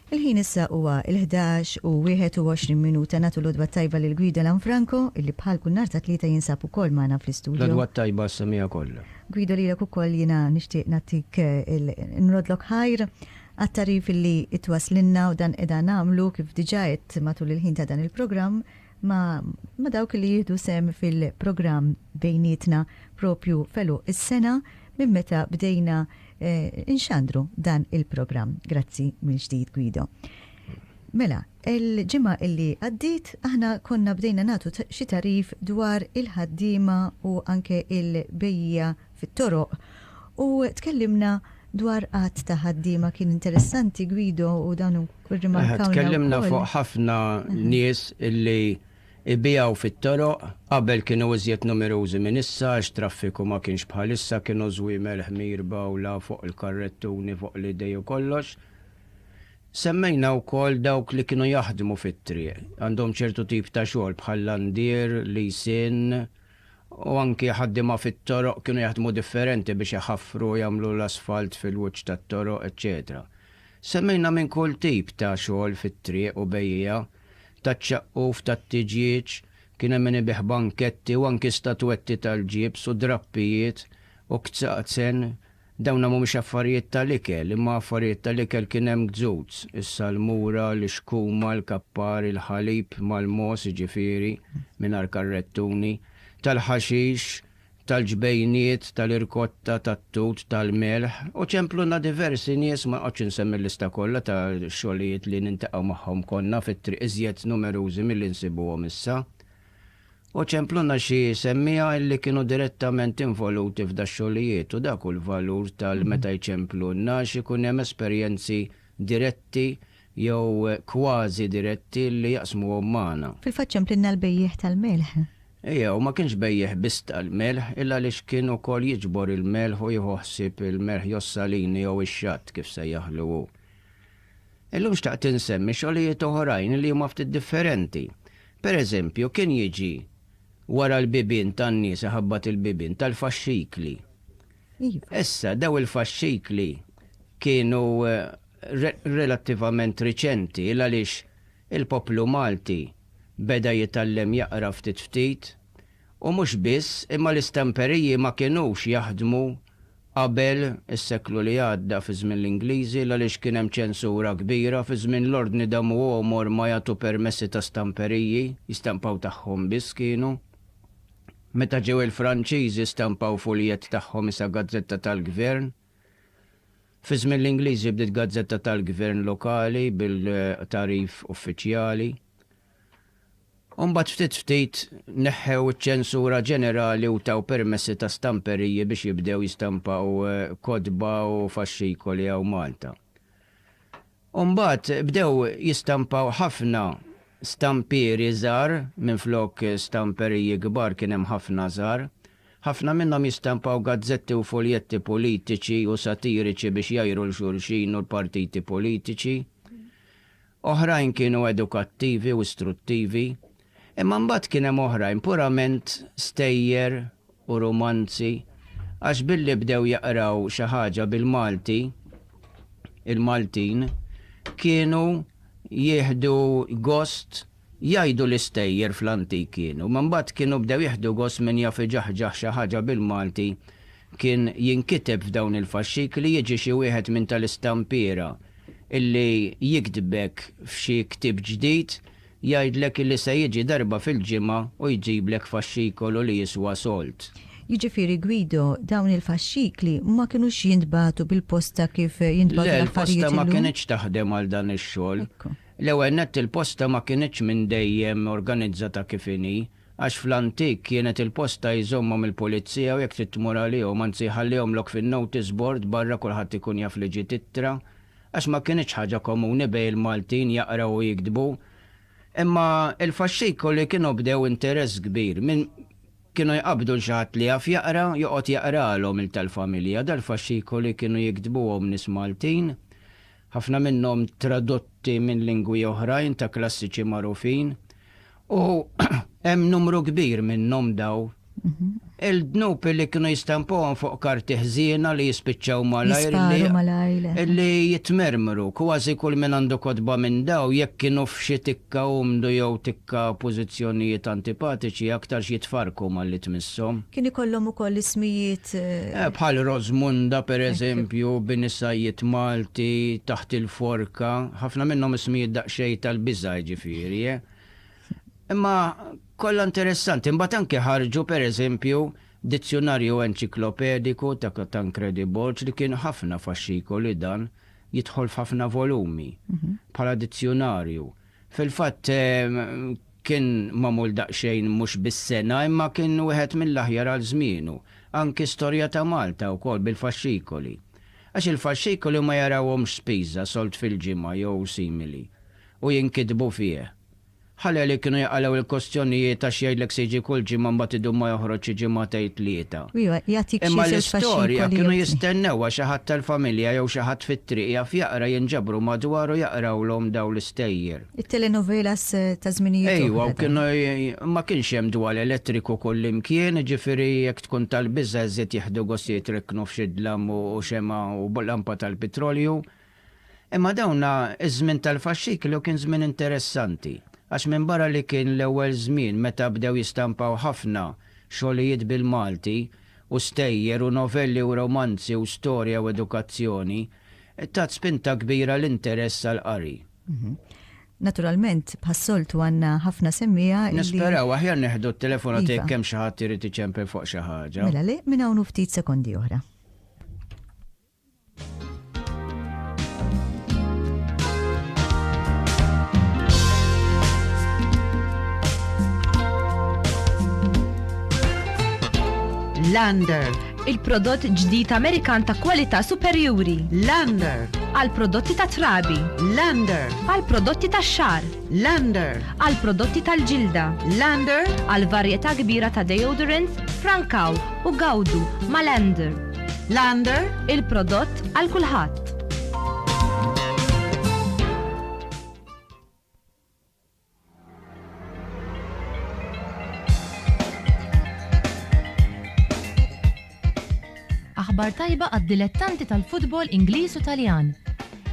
Il-ħin issa huwa il-ħdax u 21 minuta. Nagħtu l-għodwa t-tajba lil Guido Lanfranco, illi bħal kull nhar ta' Tlieta jinsab ukoll magħna fl-istudio. L-għodwa t-tajba għas-samiegħa kollha. Guido lilek ukoll jiena nixtieq nagħtik il, nroddlok ħajr għat-tagħrif illi qed twasslilna u dan qiegħda nagħmlu kif diġà għedt matul il-ħin ta' dan il-programm, ma' ma' dawk li jieħdu sehem fil-programm bejnietna propju f'għeluq is-sena minn meta bdejna nxandru dan il-programm. Grazzi mill-ġdid Guido. Mela, il-ġimgħa li għaddiet aħna konna bdejna nagħtu xi tagħrif dwar il-ħaddiema u anke l-bejjiegħa fit-toroq u tkellimna dwar għadd ta' ħaddiema. Kien interessanti Guido u dan irrimarkawna wkoll. Tkellimna fuq ħafna nies illi jbigħu fit-toroq, qabel kienu iżjed numerużi minn issa għax traffiku ma kienx bħal issa, kienu żwiemel ħmir b'għawla fuq il-karrettuni fuq l-idej u kollox. Semmejna wkoll dawk li kienu jaħdmu fit-triq, għandhom ċertu tip ta' xogħol bħal landier, lisin, u anki ħaddiema fit-toroq kienu jaħdmu differenti biex iħaffru u jagħmlu l-asfalt fil-wiċċ tat-toroq, eċċetera Semmejna minn kull tip ta' xogħol fit-triq u bejjiegħa taċ-ċaqquf, tat-tiġieġ, kien hemm min ibigħ banketti u anki statwetti tal-ġibs u drappijiet u kzaqzen Dawna mhumiex affarijiet tal-ikel, imma affarijiet tal-ikel kien hemm gzuz, is-salmura, l-ixkuma, l-kappar, il-ħalib mal-mogħoż jiġifieri, mingħajr karrettuni, tal-ħaxix, tal-ġbejniet, tal-irkotta, tat-tut, tal-melħ, u ċempluna diversi nies, ma noqgħodx insemmi l-lista kollha ta' xogħlijiet li nintaqgħu magħhom konna fit-triq iżjed numerużi milli nsibuhom issa. U Ċempluna xi jsemmiha illi kienu direttament involuti f'dax-xogħlijiet u dak hu l-valur tal meta jċemplunna għax ikun hemm esperjenzi diretti jew kważi diretti illi jaqsmuhom magħna. Fil-fatt Ċemplinna l-bejjiegħ tal-melħ. Ejja, u ma kienx bejjiegħ biss tal-melħ, illa għaliex kien ukoll jiġbor il-melħ u jieħu ħsieb il-melħ jossalini jew ix-xatt kif sejjaħlu hu. Illum xtaqt insemmi xogħlijiet oħrajn li huma ftit differenti. Per eżempju, kien jiġi wara l-bibien tan-nies iħabbat il-bibien tal-faxxikli. Issa, dawn il-faxxikli kienu relattivament riċenti l-għaliex il-poplu Malti beda jitgħallem jaqra ftit ftit u mhux biss imma l-istamperiji ma kinux jaħdmu qabel, is-seklu li għadda, fi żmien l-Ingliżi, l-għaliex kien hemm ċensura kbira, fi żmien l-Ordni da Muomo ma jagħtu permessi ta' stamperiji, jistampaw tagħhom biss kienu. Meta ġew il-Franċiżi stampaw fuljett tagħhom isa gazzetta tal-gvern. Fi żmien l-Ingliżi bdiet gazzetta tal-gvern lokali bil-tagħrif uffiċjali. u mbagħad ftit ftit neħħew iċ-ċensura ġenerali u taw permessi ta' stamperiji biex jibdew jistampaw kotba u faxxikoli hawn Malta. U mbagħad bdew jistampaw ħafna stampieri żgħar minflok stamperiji kbar kien hemm ħafna żgħar. Ħafna minnhom jistampaw gazzetti u fuljetti politiċi u satiriċi biex jgħajru 'l xulxin u l-partiti politiċi. Oħrajn kienu edukattivi u istruttivi, imma mbagħad kien hemm oħrajn purament stejjer u rumanzi għax billi bdew jaqraw xi ħaġa bil-Malti, il-Maltin kienu jieħdu gost jgħidu li stejjer fl-antik kienu, imma mbagħad kienu bdew jieħdu gost min jaf iġaħġaħ xi ħaġa bil-Malti kien jinkiteb f'dawn il-faxxikli jiġi xi wieħed minn tal-istampiera illi jiktbek f'xi ktieb ġdid jgħidlek illi se jiġi darba fil-ġimgħa u jġiblek faxxikolu li jiswa sold. Jiġifieri Guido, dawn il-faxxikli ma kinux jintbagħtu bil-posta kif jintbagħtu l-affarijiet illum? Le, l-posta ma kinitx taħdem għal dan ix-xogħol. L-ewwel nett il-posta ma kinitx minn dejjem organizzata kif inhi. għax fl-antik kienet il-posta jżommhom il-pulizija u jekk trid tmur għalihom, anzi jħallihomlok fin-notice board barra kulħadd ikun jaf li ġiet ittra, għax ma kinitx ħaġa komuni bejn il-Maltin jaqraw u jiktbu. Imma il-faxxikoli kienu bdew interess kbir, minn kienu jqabbdu 'l xi ħadd li jaf jaqra, joqgħod jaqralhom il tal-familja, dal-faxxikoli kienu jiktbuhom nies Maltin, ħafna minnhom tradotti minn lingwi oħrajn ta' klassiċi magħrufin, u hemm numru kbir minnhom daw il-dnub li kienu jistampuhom fuq karti ħżiena li jispiċċaw malajr li jitmermru kważi kull min għandu kotba minn daw jekk kienu f'xi tikka umdu jew Ka pożizzjonijiet antipatiċi aktarx jitfarrku malli tmisshom. Kien ikollhom ukoll ismijiet. Eh, bħal Rożmunda, per eżempju, bin is-sajjied Malti, Taħt il-forka, ħafna minnhom ismijiet daqsxejn tal-biża' jiġifieri, eh. Imma kollha interessanti. Imbagħad anke ħarġu, per eżempju, Dizzjunarju Enċiklopediku ta' Tancredi Borg li kien ħafna faxxikoli dan, jidħol f'ħafna volumi, bħala dizzjunarju. Fil-fatt kien magħmul daqsxejn mhux bis-sengħa imma kien wieħed mill-aħjar għal żmienu. Anki Storja ta' Malta wkoll bil-faxxikoli. Għax il-faxxikoli huma jarawhomx spiża, solt fil-ġimgħa jew simili, u jinkitbu fih. Ħaleli kienu jaqalgħu l-kustjonijiet għax jgħidlek se jiġi kull ġimgħa mbagħad idum ma joħroġx xi ġimgħa tgħid tlieta. Imma l-istorja kienu jistennewha xi ħadd tal-familja jew xi ħadd fit-triq jaf jaqra jinġabru madwar u jaqrawlhom dawn l-istejjer. It-telenovelas ta' żminijiet oħra. Ejwa u kienu ma kienx hemm dwal elettriku kullimkien, jiġifieri jekk tkun tal-biża' iżjed jieħdu gost jitriknu f'xi dlam u xemgħa u lampa tal-pitrolju. Imma dawn iż-żmien tal-faxxiklu kien żmien interessanti għax minbarra li kien l-ewwel żmien meta bdew jistampaw ħafna xogħlijiet bil-Malti u stejjer u novelli u romanzi u storja u edukazzjoni, tat spinta kbira l-interess għall-qari. Naturalment, bħas-soltu għandna ħafna semmiegħa li. Nisperaw, aħjar neħdu t-telefonata jekk hemm xi ħadd irid iċempel fuq xi ħaġa. Mela le, minn hawn u ftit sekondi oħra. Lander. Il-prodott ġdid Amerikan ta' kwalità superjuri. Lander. Għal prodotti ta' trabi. Lander. Għal prodotti ta' xar. Lander. Għal prodotti tal-ġilda. Lander. Għal varjetà kbira ta' deodorants, frankaw u gawdu ma' Lander. Lander, il-prodott għal kulħadd. aħbar tajba għad-dilettanti tal-futbol Ingliż u Taljan.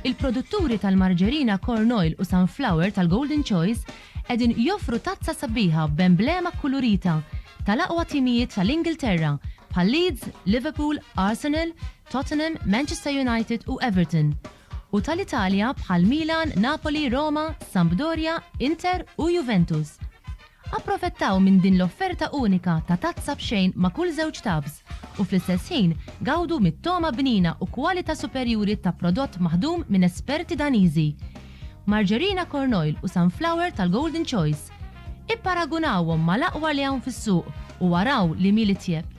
Il-produtturi tal-marġerina Corn Oil u Sunflower tal-Golden Choice Qegħdin joffru tazza sabiħa b'emblema kkulurita tal-aqwa timijiet tal-Ingilterra bħal Leeds, Liverpool, Arsenal, Tottenham, Manchester United u Everton, u tal-Italja bħal Milan, Napoli, Roma, Sampdoria, Inter u Juventus. Approfettaw minn din l-offerta unika ta' tazza b'xejn ma' kull żewġ tubs u fl-istess ħin gawdu mit-togħma bnina u kwalita superjuri ta' prodott maħdum minn esperti Daniżi. Margerina Corn Oil u Sunflower tal-Golden Choice. Ipparagunawhom mal-aqwa li hawn fis-suq u araw li mhi l-itjeb.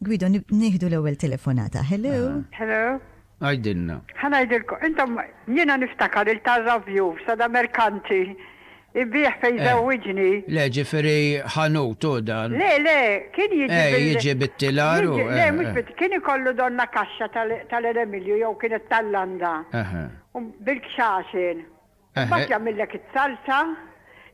Guido, nieħdu l-ewwel telefonata. Hello. Hello. Għidilna. Ħa ngħidilkom, intom jiena niftakar il-Tarra View, Sada Mercanti, Ibbiegħ fejn Eh. żewwiġni. Le, ġifieri ħanut hu dan. Le, le, kien jiġi Eh, bil- jiġi bit-tilar hu, Jiġi- Le, eh, mhux eh. bit- kien ikollu donna kaxxa tal- tal-elemilju jew kienet tal-landa. Eħe. U bil-kxaxen. Eħe. Mbagħad jagħmillek is-salsa,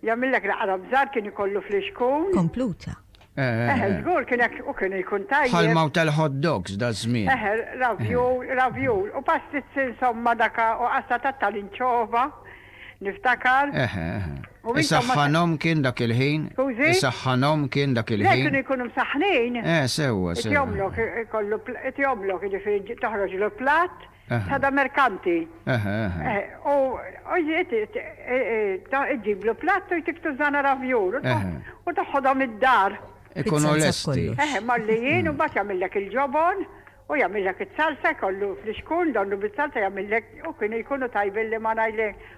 jagħmillek l-għarab żgħar kien ikollu flixkun. Kompluta. Eħe, żgur kien hekk u kien jkun tajjeb. Ħalmaw tal-hot dogs daż-żmien. Eħe, ravjul, ravjul, u pastizzi insomma daka u qassa tat-talinċova, niftakar. Eħe, eħe. Isaħħanhom kien dak il-ħin? Skużi? Isaħħanhom kien dak il-ħin? Le, kienu jkunu msaħħnin. Eh, sewwa, sewwa. Itjomlok, ikollu, itjomlok, jiġifieri toħroġlu platt. Sada merkanti. U ġiet iġġiblu platt u jtiktu żana ravjur u toħodhom id-dar. Ikunu lesti. Malli jien u mbagħad jagħmillek il-ġobon u jagħmillek it-salsa jkollu fl-ixkun donnu bis-salsa jagħmillek u kienu jkunu tajbin li ma ngħid lejk.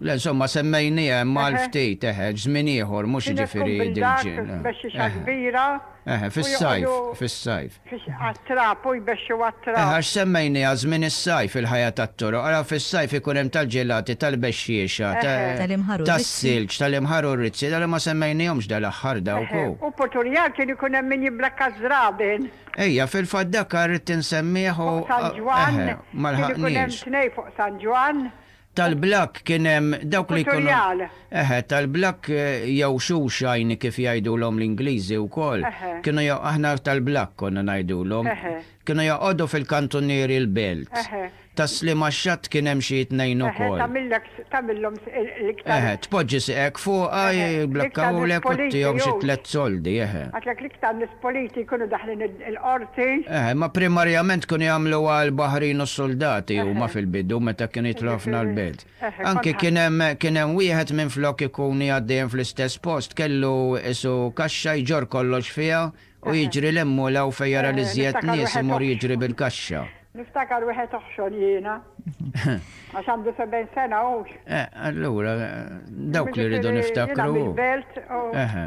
Le insomma semmejniha hemm għal ftit, eħe, żmien ieħor mhux jiġifieri dil-ġimgħa. Kienet tkun bil-dak, bexxixa kbira. Eħe, fis-sajf, fis-sajf. Għat-trab, u jbexxu għat-trab. Eħe, għax semmejniha żmien is-sajf il-ħajja tat-toroq, ara fis-sajf ikun hemm tal-ġelati, tal-bexxiexa, tas-silġ, tal-imħar u r-rizzi, dali ma semmejnihomx dal-aħħar dawk, hu. U Puturjar kien ikun hemm min jibblakka ż-żraben. Ejja, fil-fatt dak ridt insemmih u, eħe, ma lħaqniex. Fuq San Ġwann, kien ikun hemm tnejn fuq San Ġwann. Tal-blakk kien hemm dawk li jkunu. Futurjal. Eħe, tal-blakk jew shoeshine kif jgħidulhom l-Ingliżi wkoll. Eħe. Kienu jo, aħna tal-blakk konna ngħidulhom. Eħe. Kienu joqogħdu fil-kantunieri l-belt. Eħe. Tas-sliem għax-xatt kien hemm xi tnejn Eħe, ukoll. tagħmillek, tagħmillhom s- il- l-iktar. Eħe, tpoġġi sieqek fuqha, Eħe, l-iktar jiblakkawlek u politi, ttihom xi jgħux. tliet soldi, eħe. Għidlek l-iktar nies politi jkunu daħlin id-. il-Qorti. Eh, imma primarjament kienu jagħmluha l-baħrin u s-suldati huma fil-bidu meta kienu jidħlu ħafna l-belt. Anki kien hemm kien hemm wieħed minflok ikun qiegħed dejjem fl-istess post kellu qisu kaxxa jġorr kollox fiha u jiġri 'l hemm u 'l hawn fejn jara l-iżjed nies imur jiġri bil-kaxxa. Niftakar wieħed oħxon jiena. Għax għandu 70 sena hux. Eh, allura dawk li rridu niftakru. Jiena mill-belt u. Eħe.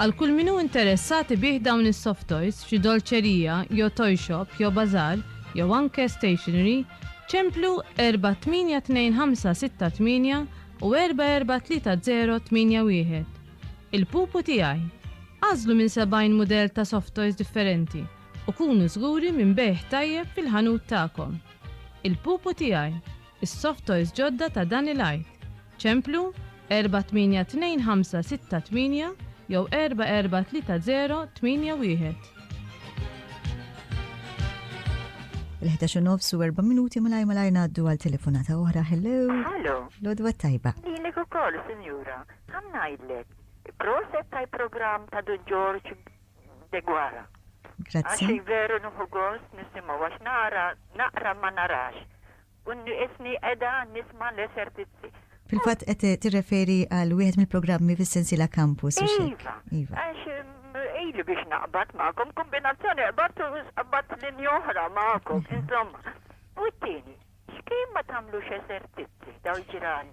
Għal kull min hu interessat ibigħ dawn is-soft toys f'xi dolċerija jew toy shop jew bazaar jew anke stationery, ċemplu 482568 u 443081. Il-pupu tiegħi! Agħżlu minn 70 mudell ta' soft toys differenti u kunu żguri minn bejgħ tajjeb fil-ħanut tagħkom. Il-pupu tiegħi! Is-soft toys ġodda ta' dan il-Għid! Ċemplu, 482568 jew 443081. Il-11 u nofs u 4 minuti malaj malaj naddu għal telefonata oħra. Hello. Hello. Lodwa tajba. Lilek u koll, sinjura. Għam najdlek. Proset taj program ta' Dun George Degwara. Grazie. Għaxi veru nuħu għos nisimu għax nara, naqra ma narax. U nniqisni qiegħda nisma' l-esertizzi. Fil-fatt qed tirreferi għal wieħed mill-programmi fis-sensiela Campus, hux hekk? Iva. Għax ili biex naqbad magħkom, kombinazzjoni qbadt u qbadt linja oħra magħkom, insomma. U t-tieni, x'kien ma tagħmlux esertizzi dawn il-ġiran?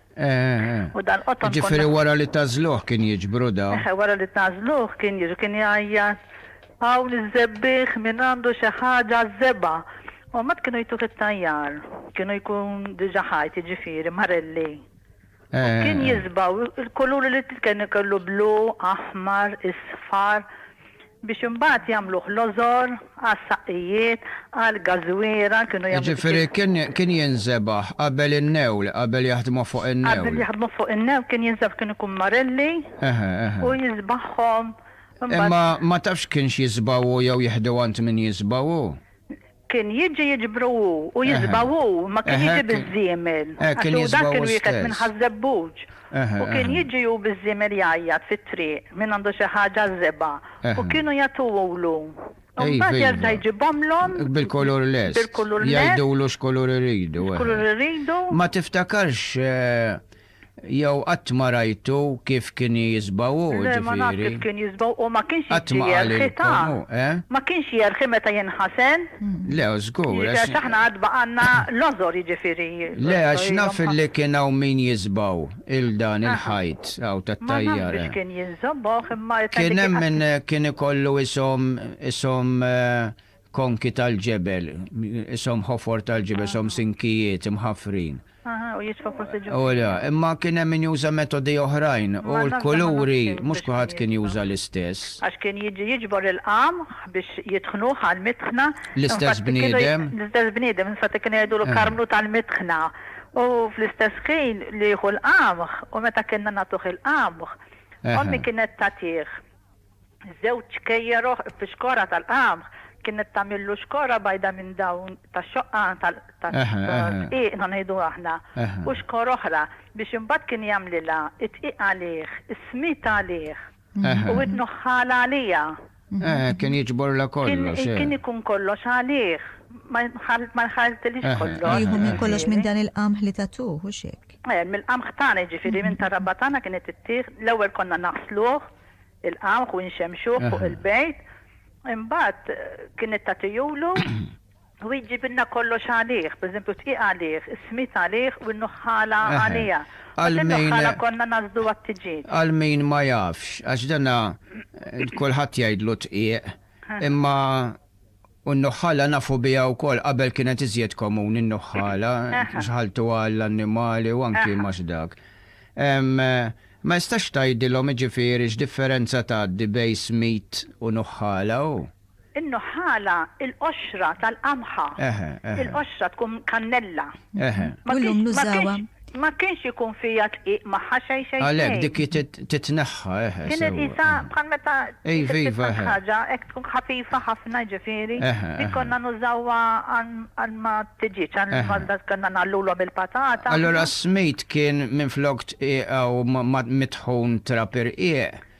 U dan qotton. Jiġifieri wara li tagħżluh kien jiġbru da. Eħe, wara li tagħżluh kien jiġu kien jgħajjat, Hawn iż-żebbiegħ min għandu xi ħaġa żebgħa. U mbagħad kienu jtuh it-tajjar. Kienu jkun diġà ħajt, jiġifieri marelli. U kien jiżbgħu l-kuluri li kien ikollu blu, aħmar, isfar. Biex imbagħad jagħmluh lożor għas-saqqijiet, għall-gażwiera, kienu jagħmlu. Jiġifieri kien kien jinżebaħ qabel in-newl, qabel jaħdmu fuq in-newl. Qabel jaħdmu fuq in-newl kien jinżebaħ kien ikun marelli u jiżbagħhom imbagħad. Imma ma tafx kienx jiżbgħu jew jieħdu għand min jiżbgħu? Kien jiġi jiġbru hu, u jiżbgħu hu, ma kien jiġi biż-żiemel, għax hu dak kien wieħed minn Ħaż-Żebbuġ, u kien jiġi hu biż-żiemel jgħajjat fit-triq, min għandu xi ħaġa għaż-żebgħa, u kienu jagħtuhulu, imbagħad jerġa' jġibhomlhom bil-kulur lest, jgħidulu x'kulur iridu, x'kulur iridu. Ma tiftakarx. Jew qatt ma rajtu kif kien jiżba' hu, ġifieri. Le, ma nafx kif kien jiżba' hu, ma kienx jiġri jerħi, ta? Ma kienx jerħi meta jinħasen? Le, żgur. Jiġifieri għax aħna għad baqgħalna l-għożor, jiġifieri. Le, għax naf li kien hawn min jiżba' hu, il dan il-ħajt hawn tat-tajjara. Ma nafx biex kien jiżba' hu, imma. Kien hemm min kien ikollu ishom, ishom, konki tal-ġebel, ishom ħofor tal-ġebel, ishom sinkijiet imħaffrin. Aha, u jitfa' fost il-ġufijiet. U le, imma kien hemm min juża metodi oħrajn, u l-kuluri mhux kulħadd kien juża l-istess. Għax kien jiġi jiġbor il-qamħ biex jitħnuh għall-mitħna. L-istess bniedem. L-istess bniedem, infatti kienu jgħidulu karmlu tal-mitħna. U fl-istess ħin li jieħu l-qamħ, u meta kienna nagħtuh il-qamħ, ommi kienet tagħtih. Żewġ kejjer oħra fix-xkora tal-qamħ, kienet tagħmillu xkora bajda minn dawn tax-xoqqa tad-dqiq ngħidu aħna, u xkor oħra, biex imbagħad kien jagħmlilha d-dqiq għalih, is-smid għalih, u t-tnuħħal għaliha. Kien jiġborlha kollox. Kien ikun kollox għalih, ma jħalltilhiex kollox. Jieħu minn kollox minn dan il-qamħ li tagħtuh, hux hekk? Mill-qamħ tagħna, jiġifieri minn tar-raba' tagħna kienet ittieħ, l-ewwel konna naħsluh, il-qamħ u nxemmxuh fuq il-bejt, imbagħad kienet tagħtihulu u hi ġġibilna kollox għalih, pereżempju d-dqiq għalih, is-smid għalih u n-nuħħala għaliha. Għal min. Mbagħad in-nuħħala konna ngħażżlu għat-tiġieġ. Għal min ma jafx, għax dan kulħadd jgħidlu dqiq, imma U n-nuħħala nafu biha wkoll, qabel kienet iżjed komuni n-nuħħala, xħaltuha għall-annimali u anki mhux dak. Ma jistax tgħidilhom jiġifieri x'differenza tgħaddi bejn smid u nuħħala hu? In-nuħħala il-qoxra tal-qamħa, il-qoxra tkun kannella. Eħe. U llum nużawha. Ma kienx ikun fija dqiq magħha xejn xejn xejn. Għalhekk dik hi titneħħa, eħe, sewwa. Din irqisha bħal meta titqisha xi ħaġa hekk tkun ħafifa ħafna, jiġifieri, dik konna nużawha għal ma' tiġieġ, għal ma' konna ngħallulhom il-patata. Allura s-smid kien minflok tqiegħu ma' mit-dħun trab irqiq,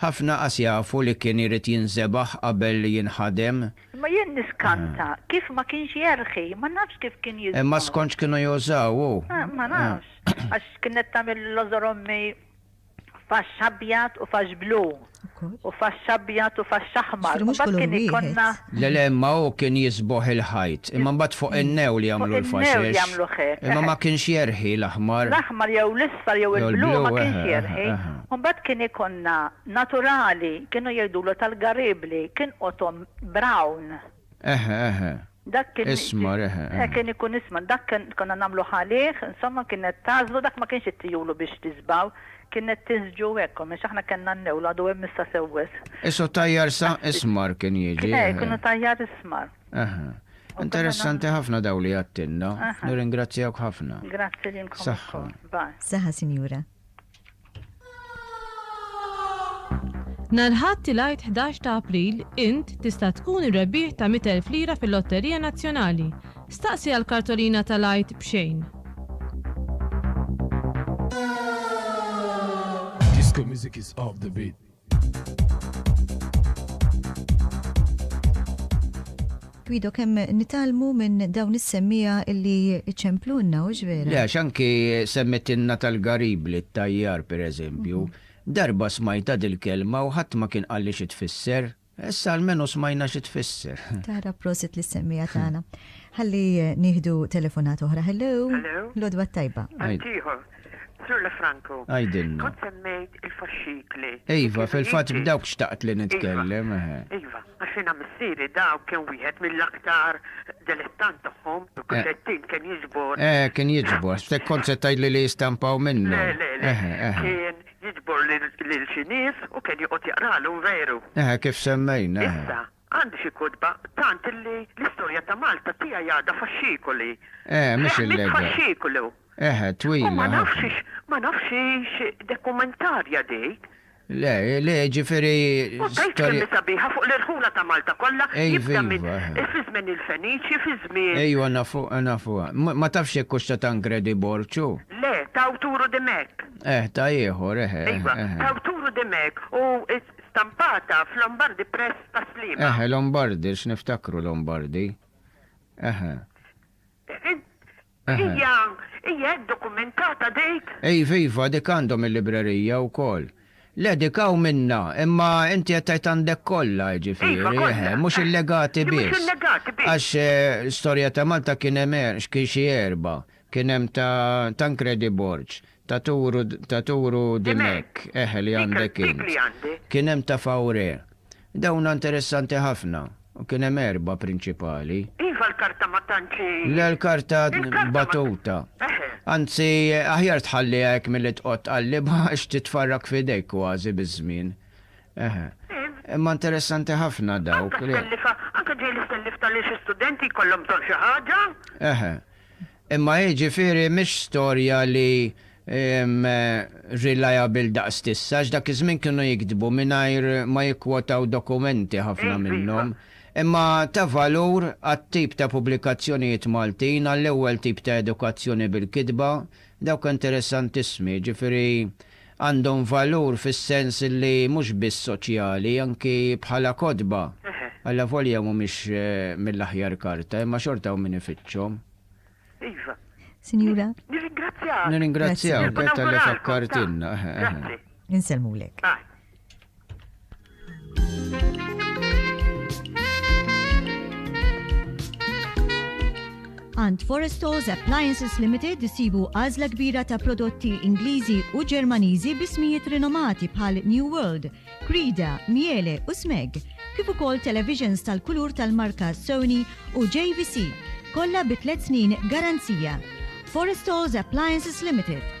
Ħafna qas jafu li kien irid jinżebaħ qabel li jinħadem. Imma jien niskanta kif ma kienx jerħi, ma nafx kif kien jiżbal. Imma skont x'kienu jużaw hu. Ma nafx, għax kienet tagħmel l-għożor ommi faxx abjad u faxx blu, u faxx abjad u faxx aħmar, u mbagħad kien ikollna. Le le imma hu kien jisboħ il-ħajt. Imma mbagħad fuq in-new li jagħmlu l-faxex. Fuq in-new li jagħmluh hekk. Imma ma kienx jerħi l-aħmar. L-aħmar jew l-isfar jew il-blu ma kienx jerħi. U mbagħad kien ikollna naturali, kienu jgħidulu tal-garibli, kien qotom brown. Eħe eħe. Dak kien. Ismar eħe. Eħe kien ikun ismar. Dak kien konna nagħmlu għalih, insomma kienet tagħżlu dak ma kienx it-tijulu biex tisbaw. Kienet tiżġu hekk omm għax aħna kellna n-newl għadu hemm issa sew wisq. Isu tajjar sa ismar kien jiġi. Kien hekk, kienu tajjar ismar. Aha. Interessanti ħafna dawn li għadtilna. Nirringrazzjawk ħafna. Grazzi lilkom ukoll. Saħħa. Bye. Saħħa sinjura. Nhar il-Ħadd il-Għid 11 ta' April int tista' tkun ir-rebbieħ ta' 100,000 lira fil-Lotterija Nazzjonali. Staqsi għal kartolina tal-Għid b'xejn. Disco music is off the beat. Guido, kemm nitalmu minn dawn is-semmija illi ċemplunna, u ġvera? Le, għax anki semmetinna tal-garibli, t-tajjar, per eżempju, mhm. darba smajta dil-kelma u ħadd ma kien qalli xi tfisser, Issa almenu smajna xi tfisser. Tara prosit lis-semmiegħa tagħna. Ħalli nieħdu telefonat oħra. Hello. Hello. Lodwa tajba. Għajtiħor. Sur La Franco. Għajdilna. Kont semmejt il-faxxikli. Iva, fil-fatt b'dawk xtaqt li nitkellem. Iva, eh. iva għaxina missieri dawk kien wieħed mill-aktar delettant tagħhom, kuxettin eh. kien jiġbor. Eh, kien jiġbor, stek kont se tgħidli li jistampaw minnu. Le, le, le. Eh, kien Jiġbor lil xi nies u kien joqgħod jaqralhom veru. Eħe, kif semmejna, eħe. Issa, għandi xi kotba, tant illi l-istorja ta' Malta tiegħi għadha faxxikoli. Eħe, mhix il-legda. Fehmiet faxxikolu. Eħe, twila ħafna. U ma nafx hix, ma nafx hix dokumentarja dik. Le, le, ġifieri. U tgħid kemm hi sabiħa fuq l-irħula ta' Malta kollha, jibda minn fi żmien il-Feniċi, fi żmien. Ejwa, nafuha, nafuha. Ma tafx jekk hux ta' Tancredi Borg hu? Le, ta' awtur u dimhekk. Eh, ta' ieħor, eh, eh. Iva, eh, eh. ta' awturu Dimech u stampata f'Lombardi Press ta' Sliema. Eh, eh, Lombardi, x'niftakru Lombardi. Eh, eh. Eh, eh. Hija, hija hekk dokumentata dik? Iva, iva, dik għandhom il-librerija wkoll. Le, dik hawn minnha, imma inti qed tgħid għandek kollha, Iva, jiġifieri, eh, kollha. eh, mhux illegati Li mhux biss. illegati biss. Għax eh, storja ta' Malta kien hemm er- x'kien xi erba' Kien hemm ta' Tancredi Borg, ta' Turu, ta' Turu di Mec, eħe li għandek int. Kien hemm ta' Fauré. Dawna interessanti ħafna. U kien hemm erbgħa prinċipali. Iva l-karta ma tantx hi. Le l-karta battuta. Eħe. Anzi, aħjar tħalliha hekk milli tqgħod tqallibha għax titfarrak f'idejk kważi biż-żmien. Eħe. Imma interessanti ħafna dawk. Anke stellifa, anke ġej l-istellif tal-li xi studenti jkollhom bżonn xi ħaġa. Eħe. Imma hi ġifieri mhix storja li reliable daqs t'issa għax dak iż-żmien kienu jiktbu mingħajr ma jikkwotaw dokumenti ħafna minnhom. Imma ta' valur għat-tip ta' pubblikazzjonijiet Maltin, għall-ewwel tip ta' edukazzjoni bil-kitba, dawk interesantissmi, jiġifieri Għandhom valur fis-sens li mhux biss soċjali, anki bħala kotba, allavolja mhumiex mill-aħjar karta, imma xorta hawn min ifittxhom. Iva. Sinjura. Nirringrazzjak. Nirringrazzjawk talli fakkartilna. Grazzi. Insellmulek. Ant Forestos Appliances Limited isibu għażla kbira ta' prodotti Ingliżi u Ġermaniżi bismijiet rinomati bħal New World, Krida, Miele u Smeg, kif ukoll televisions tal-kulur tal-marka Sony u JVC, kollha bi tliet snin garanzija. Forestos Appliances Limited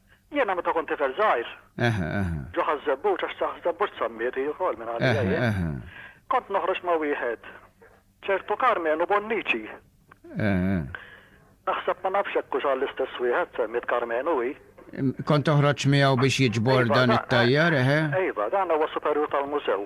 Jiena meta kont tifel żgħir. Eħe, eħe. Ġo ħaż-żebbuġ għax saħ żebbuġ sammiet hi wkoll minn għalija jien. Eħe, eħe. Kont noħroġ ma' wieħed ċertu Karmenu Bonnici. Eħe. Naħseb ma nafx hekk hux għall-istess wieħed semmiet Karmenu hi. Kont toħroġ miegħu biex jiġbor dan it-tajjar, eħe? Iva, dan huwa superjur tal-mużew.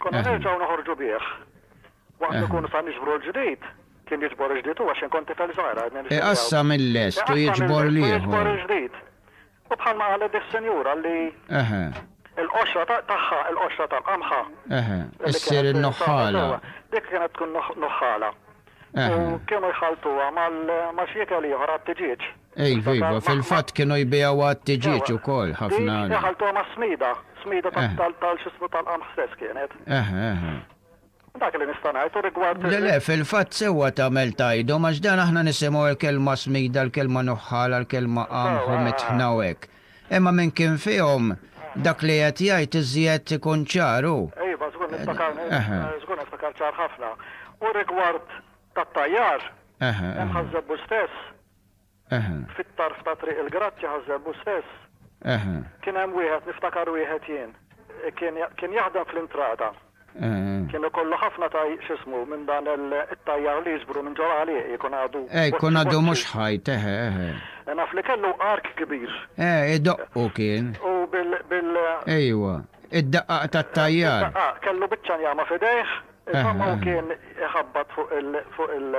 Konna nerġgħu noħorġu bih. Waqt li nkunu sa niġbru l-ġdid, kien jiġbor il-ġdid huwa x'inhu kont tifel żgħir għadni nixtri miegħu. Iqassam il-lest u jiġbor l-ieħor. Iqassam il-lest u jiġbor il-ġdid. U bħalma qalet dis-sinjura li l-qoxra tagħha, il-qoxra tal-qamħa, issir in-nuħħala. Dik kienet tkun nuħħala. U kienu jħalltuha ma' xi ikel ieħor għat-tiġieġ. Iva, iva, fil-fatt kienu jbigħu għat-tiġieġ ukoll ħafna. Dik daħalthom għas-smida, smida tal-x'ismu tal-qamħ stess kienet. Eħe, eħe. Dak li nista' ngħid u rigward. Le, le, fil-fatt sewwa tagħmel tgħidhom għax dan aħna nisimgħu l-kelma smida, l-kelma nuħħala, l-kelma qamħ u mitħna u hekk. Imma minn kien fihom dak li qed jgħid iżjed ikun ċar hu. Iva, żgur niftakar, żgur niftakar ċar ħafna. U rigward tat-tajjar, imħażżebbu stess. Fit-tarf ta' Triq il-Grazzja Ħaż-Żebbuġ stess kien hemm wieħed, niftakar wieħed jien. Kien jaħdem fl-intrata. Kien ikollu ħafna x'ismu minn dan it-tajjar li jiġbru minn ġol għalieqi, jkun għadu. Eh, jkun għadu mhux ħajt, eħe, eħe. Naf li kellu ark kbir. Eh, idoqqu kien. U bil, bil. Ejwa, id-daqqaq tat-tajjar. Id-daqqaq, kellu biċċa njama f'idejh, insomma hu kien iħabbat fuq il, fuq il,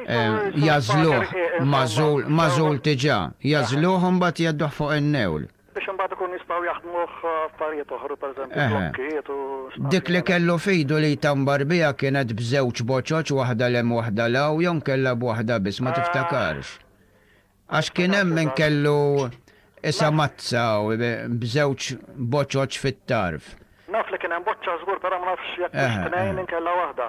jagħżluh magħżul, magħżul diġà, jagħżluh u mbagħad jgħadduh fuq in-newl. Biex imbagħad ikun jistgħu jaħdmuh f'affarijiet oħra, pereżempju blokkijiet u spazji. Dik li kellu f'idu li jtambar biha kienet b'żewġ boċoċ waħda 'l hemm waħda 'l hawn jew nkella b'waħda biss, ma tiftakarx? Għax kien hemm min kellu isa mazza b'żewġ boċoċ fit-tarf. Naf li kien hemm boċċa żgur però ma nafx jekk kienx tnejn inkella waħda.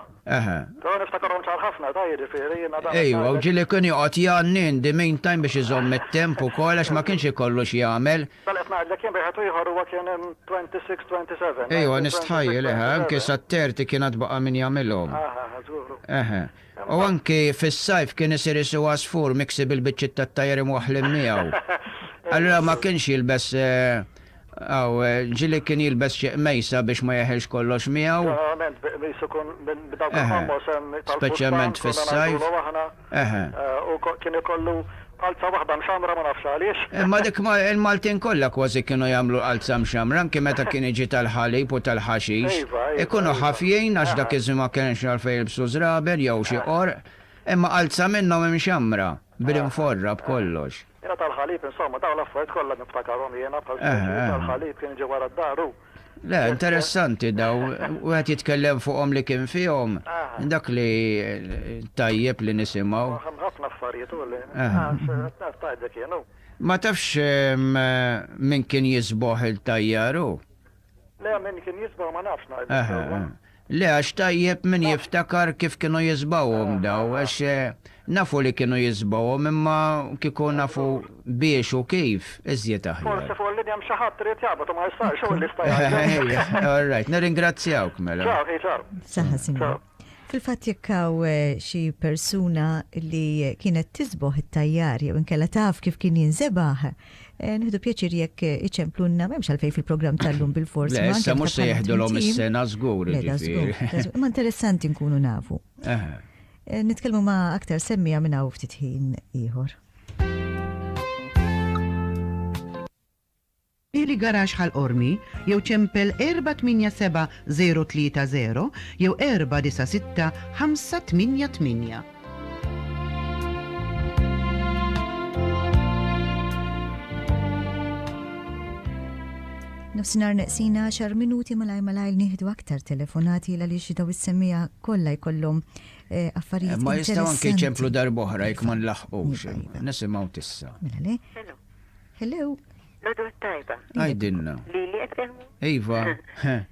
Però niftakarhom ċar ħafna, ta' jiġifieri jiena dan. Ejwa, u ġieli kien joqgħod jgħanni in the meantime biex iżomm it-temp ukoll għax ma kienx ikollu x'jagħmel. Dan qed ngħidlek jien b'wieħed u ieħor huwa kien 26, 27. Ejwa, nistħajjel, eħe, anke sa 30 kien għad baqa' min jagħmilhom. Eħe, eħe, żgur. Eħe. U anki fis-sajf kien isir isu għasfur miksi bil-biċċiet tat-tajr imwaħħlin miegħu. Allura ma kienx jilbes Aw, ġieli kien jilbes xi qmejsa biex ma jeħilx kollox miegħu. Ġeneralment bi qmis ikun minn dawk il-fammos tal-bustan konna ngħidulhom aħna. Eħe. U kien ikollu Qalza waħda mxammra ma nafx għaliex. Imma dik ma il-Maltin kollha kważi kienu jagħmlu qalza mxammra anki meta kien jiġi tal-ħalib u tal-ħaxix. Iva, iva, Ikunu iva. ħafjin għax dak iż-żmien ma kenx għalfejn jilbsu żraben jew xi qorq. Imma qalza minnhom imxammra, bl-inforra, b'kollox. Jiena tal-ħalib insomma dawn l-affarijiet kollha niftakarhom jiena bħal pereżempju tal-ħalib kien jiġi wara d-dar u. Le, interessanti daw, u għet jitkellem fuqom li kien fihom, dak li tajjeb li nisimaw. Għem ħafna affarijiet u li, għax tajda kienu. Ma tafx min kien jisboħ il-tajjaru? Le, min kien jisboħ ma nafx najdu. Le għax tajjeb min jiftakar kif kienu jisbgħuhom daw għax nafu li kienu jisbgħuhom imma kieku nafu biex u kif iżjed aħjar. Forsi fuq il-linja hemm xi ħadd irid jaqbad u ma jistgħux hu l-lista jgħid. All right, nirringrazzjawk mela. Ċaw ħi ċaw. Saħħa Sinjur. Fil-fatt jekk hawn eh, xi persuna li kienet tisboħ it-tajjar jew inkella taf kif kien jinżebaħ, Eh, Nħidu pjaċir jekk eh, iċemplunna, memx għalfej fil-program tal-lum bil-fors. Le, issa mux se jieħdulhom is-sena żgur. Ma interessanti nkunu nafu. Eh. Nitkellmu ma' aktar semmija minn hawn ftit ħin ieħor. Ili garax ħal ormi jew ċempel 487 030 jew 496 588. Nofsinar neqsina xar minuti malaj malaj nieħdu aktar telefonati l għaliex daw is-semmija kollha jkollhom eh, affarijiet. Ma jistgħu anke ċemplu darboħra jekk ma nlaħqux. Nisimgħu tissa. Mela le. Hello. Nadu tajba. Għajdinna. Li li Iva.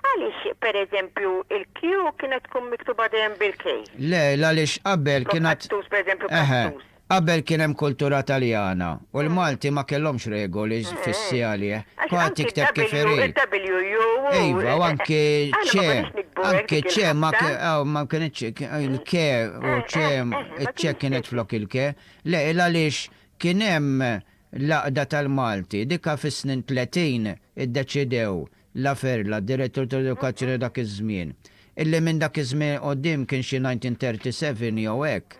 Għaliex, per eżempju, il-Q kienet tkun miktuba dejjem bil-K? Le, l-għaliex qabel kien għad. Flok qattus, per eżempju, qattus. Eħe, qabel kien hemm kultura Taljana u l-Malti ma kellhomx regoli fissi għalih. Kulħadd jikteb kif irid. Għax anki il-W, il-W, il-W, il-Q. Iva, u anki ċ. Aħna ma konniex nikbu hekk dik il-ħabta. Anki ċ ma kien, aw, ma kinitx, il-K u ċ, iċ-ċ kienet flok il-K. Le, l-għaliex kien hemm l-għaqda tal-Malti, dika fis-snin tletin iddeċidew Laferla, direttur tal-edukazzjoni dak iż-żmien, illi minn dak iż-żmien 'il quddiem kien xi 1937 jew hekk,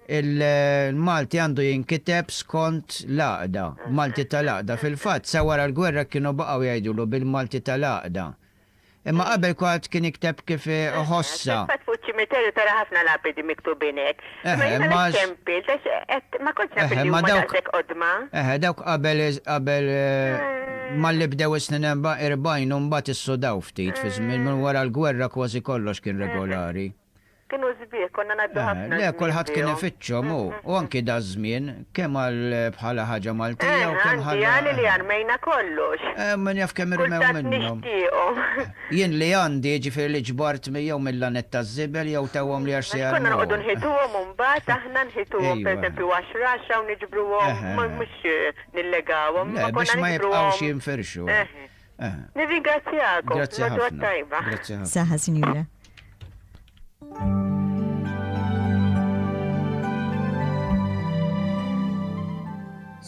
il-Malti għandu jinkiteb skont l-għaqda, Malti tal-għaqda. Fil-fatt, sa wara l-gwerra kienu baqgħu jgħidulu bil-Malti tal-għaqda. Imma qabel kulħadd kien jikteb kif iħossha. Fil-fatt fuq iċ-ċimiterju tara ħafna lapidi miktubin hekk. Imma jiena l-iċċempil, għax qed ma kontx naf li huma daqshekk qodma. Eħe, dawk qabel, qabel malli bdew is-snin 40 u mbagħad issudaw ftit fiż-żmien, minn wara l-gwerra kważi kollox kien regolari. Kienu sbieħ, konna ngħaddu ħafna żmien bihom. Le, kulħadd kien ifittxhom hu, u anki daż-żmien, Kemm għal bħala ħaġa Maltija u kemm bħala. Għandi għani li armejna kollox. Min jaf kemm irmew minnhom. Kultant nixtieqhom. Jien li għandi, jiġifieri li ġbart jew mill-lanett taż-żibel jew tawhom li għax se jarmuhom. Konna noqogħdu nħituhom imbagħad aħna nħituhom pereżempju għaxra għaxra u niġbruhom mhux nillegawhom. Le biex ma jibqgħux jinfirxu. Eh. Nirringrazzjakom. Grazzi ħafna. Grazzi ħafna. Saħa, Sinjura.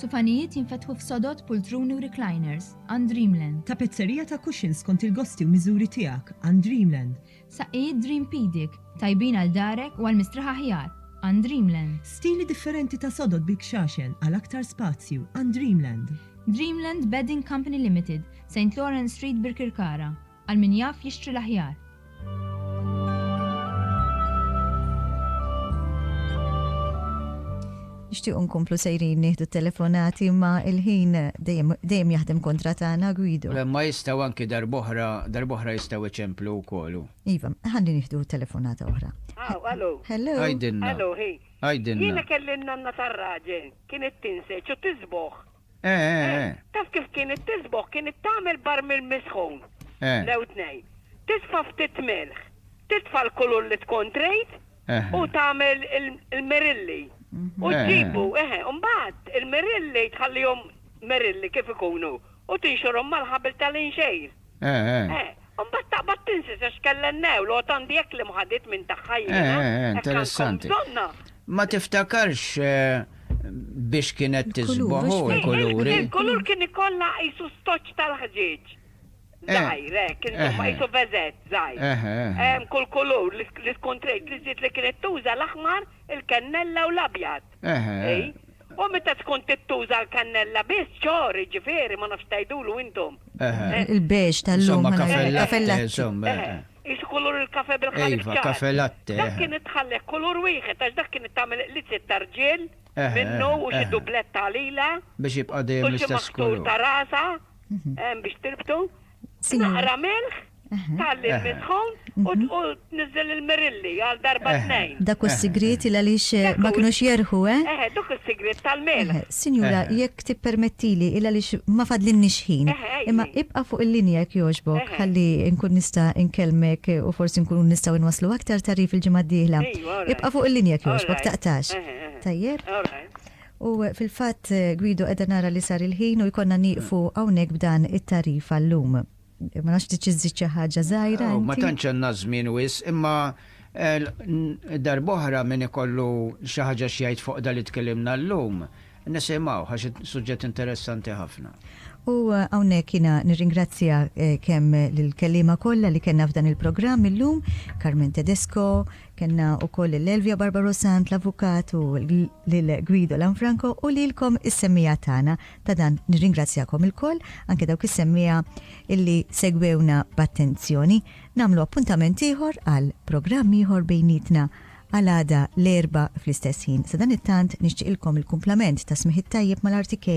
Sufanijiet jinfetħu f'sodot pultruni u recliners għand Dreamland. Ta' pizzerija ta' cushions kont il-gosti u miżuri tiegħek għand Dreamland. Saqqijiet Dreampedic, tajbin għal darek u għal mistrieħa aħjar, għand Dreamland. Stili differenti ta' sodod bil-kxaxel għal aktar spazju, għand Dreamland. Dreamland Bedding Company Limited, Saint Lawrence Street Birkirkara, għal min jaf jixtri l-aħjar. Nixtiequ nkomplu sejrin nieħdu t-telefonati imma l-ħin dejjem dejjem jaħdem kontra tagħna, Guido. Imma jistgħu anki darb'oħra darb'oħra jistgħu iċemplu wkoll u. Iva, ħalli nieħdu telefonata oħra. Aw, allo. Hello. Għidilna. Allo, hi. Għidilna. Jiena kelli n-nanna tar-raġel, kienet tinseġ u tiżbogħ. Eh, eh, eh. Taf kif kienet tisboħ? Kienet tagħmel barmil misħun. Eh. Lew tnejn. Tisfa' ftit milħ, titfa' l-kulur li tkun trid eh. u tagħmel il-merilli. Mhm. U ġibu, eh, mbagħad il-merilli tħallihom merilli kif ikunu u tinxorhom mal-ħabel tal-inxejr. Eh, eh. Eh, mbagħad taqbad tinsi se xkellen newl għod għandi hekk l-imħadit minn tagħha jiena. Eh, eh, eh, interessanti. Ma tiftakarx eh, biex kienet tiżboħu l-kuluri. Il-kulur kien ikollha qisu stoċ tal-ħġieġ. Zajr, eh, kien insomma eh, qisu vezet, zajr. Eh, kull kulur li tkun trejt li żied li kienet tuża l-aħmar, il-kennella u l-abjad. U meta tkun tittuża l-kannella biss, ċor, jiġifieri, ma nafx tgħidulu intom. Il-beige tal-lum. Insomma, cafè latte, insomma. Qisu kulur il-kafè bil-ħalib ċar. Iva, kafè latte. Dak kien itħalleh kulur wieħed għax dak kien it-tagħmel qliziet ta' rġiel minnu u xi dublett ta' għalila. Biex jibqa' dejjem l-istess kulur. U xi maħtur ta' rasha biex tirbtu. Naqra milħ, talli eh. l-midħun u mhm. tniżżel il-mirilli għal darba eh. tnejn. Dak u s-sigriet il għaliex eh, ma kinux jerħu, eh? Eh, dak u s-sigriet tal-milħ. Sinjura, jekk tippermettili il għaliex ma fadlin nixħin. Imma ibqa fuq il-linja jekk joġbok, ħalli nkun nista' nkelmek u forsi nkunu nistgħu nwaslu aktar tarif il-ġimgħa d-dieħla. Ibqa fuq il-linja jekk joġbok, taqtax. Tajjeb? U fil-fatt, Guido, qiegħda nara li sar il-ħin u jkollna nieqfu hawnhekk b'dan it-tagħrif għal-lum. Ma nafx trid xi żżid xi ħaġa żgħira inti? Ma tantx għandna żmien wisq, imma darb'oħra min ikollu xi ħaġa x'jgħid fuq dan li tkellimna llum, nisimgħuh għax is-suġġett interessanti ħafna. U hawnhekk jiena nirringrazzja kemm lill-kelliema kollha li kellna f'dan il-programm illum, Carmen Tedesco, Kellna wkoll lil Elvia Barbaro Sant, l-avukat, u lil Guido Lanfranco u lilkom is-semmiegħa tagħna. Ta' dan nirringrazzjakom ilkoll, anke dawk is-semmiegħa illi segwewna b'attenzjoni. Nagħmlu appuntament ieħor għal programm ieħor bejnietna għal għada l-Erbgħa fl-istess ħin. Sadanittant nixtieqilkom il-kumplament ta' smigħ it-tajjeb mal-RTK